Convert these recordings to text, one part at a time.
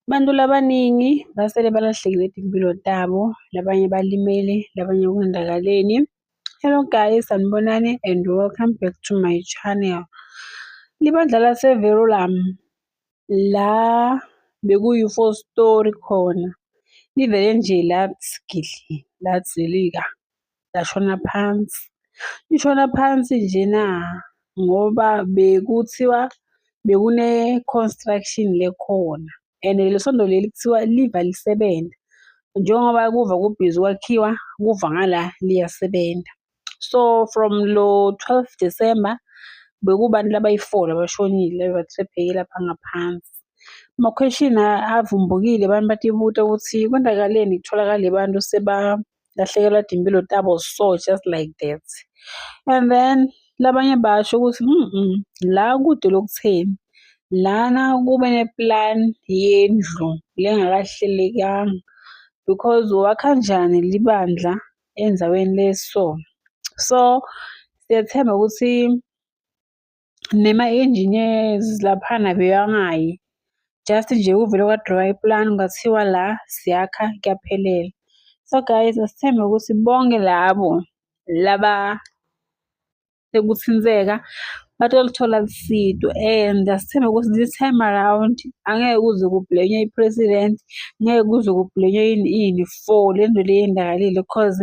Abantu labaningi basele balahlekile timpilo tabo, labanye balimele, labanye kondakaleni. Hello guys, sanibonani and welcome back to my channel. Libandla laseVerulam la bekuyi-four story khona livele nje lathi gidli lathi zilika. yashona phansi. Ishona phansi njena ngoba bekuthiwa bekune-construction le khona and leli sondo leli kuthiwa liva lisebenza. Njengoba kuva kubhizi kwakhiwa kuva ngala liyasebenza. So from lo twelve December bekubantu labayi-four labashonile lapha ngaphansi. Amakhweshini avumbukile abantu batibuta ukuthi kwenzakaleni kutholakale abantu lahlekelwa timpilo tabo so just like that and then labanye basho ukuthi mm la kude lokutheni lana kube neplan yendlu lengakahlelekanga because wakha njani libandla endaweni leso so siyathemba ukuthi nema-engineers laphana bewangayi just nje uvele kwadrawa ipulani kwathiwa la siyakha kuyaphelela so guys asithembe ukuthi bonke labo laba sekuthinteka batolithola lusido and asithembe ukuthi this time around angeke kuze kubhlenywe i-president ngeke kuze kubhlenywe yini ini for le nto le yendakalile because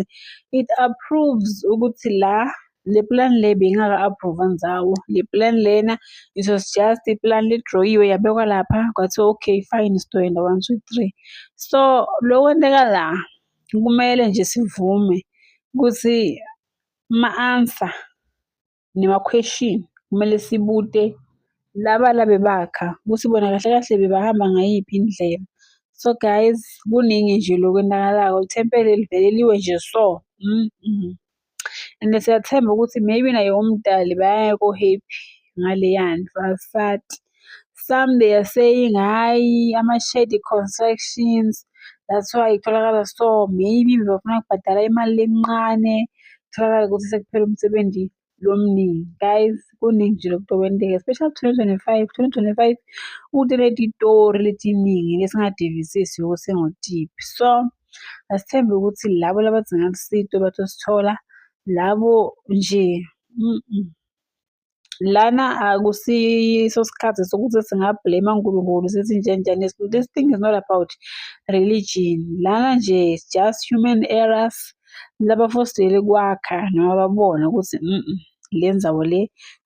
it approves ukuthi la le plan le beyingaka-approve nzawo le plan lena it was just iplan lidroyiwe yabekwa lapha kwathiwa okay fine sizoyenda one two three so lo kwenteka la kumele nje sivume ukuthi ma-answer nema-question kumele sibude laba labe bakha ukuthi bona kahle kahle bebahamba ngayiphi indlela so guys kuningi nje lokwenakalako lithempeli liveleliwe nje so mm -mm. And siyathemba ukuthi maybe naye umdali bayaya ko-happy ngaleya nto asati. Some they are saying hhayi ama-shady constructions that's why kutholakala so maybe bebafuna kubhadala imali lencane kutholakala ukuthi sekuphela umsebenzi lomningi guys kuningi nje lokhu okwenteka especially 2025 2025 uteleta itori letiningi lesingadivisisi ukuthi singotiphi so Asithembe ukuthi labo labadinga usizo batosithola, labo nje lana akusiyiso isikhathi sokuthi singa-blame uNkulunkulu sithi nje njani this thing is not about religion lana nje it's just human errors labafostele kwakha noma babona ukuthi le nzawo le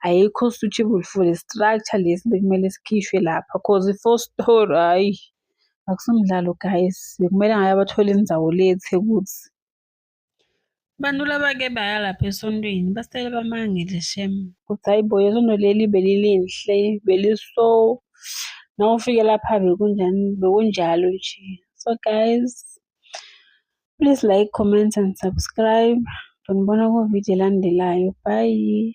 ayikho suitable for le structure lesi bekumele sikhishwe lapha cause i-four story hhayi. Akusumdlalo guys, bekumele ngabe abathole inzawo le eThekwuthi. Abantu laba ke baya lapha esontweni basele bamangele shem. Kuthi hayi bo isonto leli belilinhle, beliso nawufike lapha bekunjani bekunjalo nje. So guys, please like, comment and subscribe. Ndonibona ku-video elandelayo. Bye.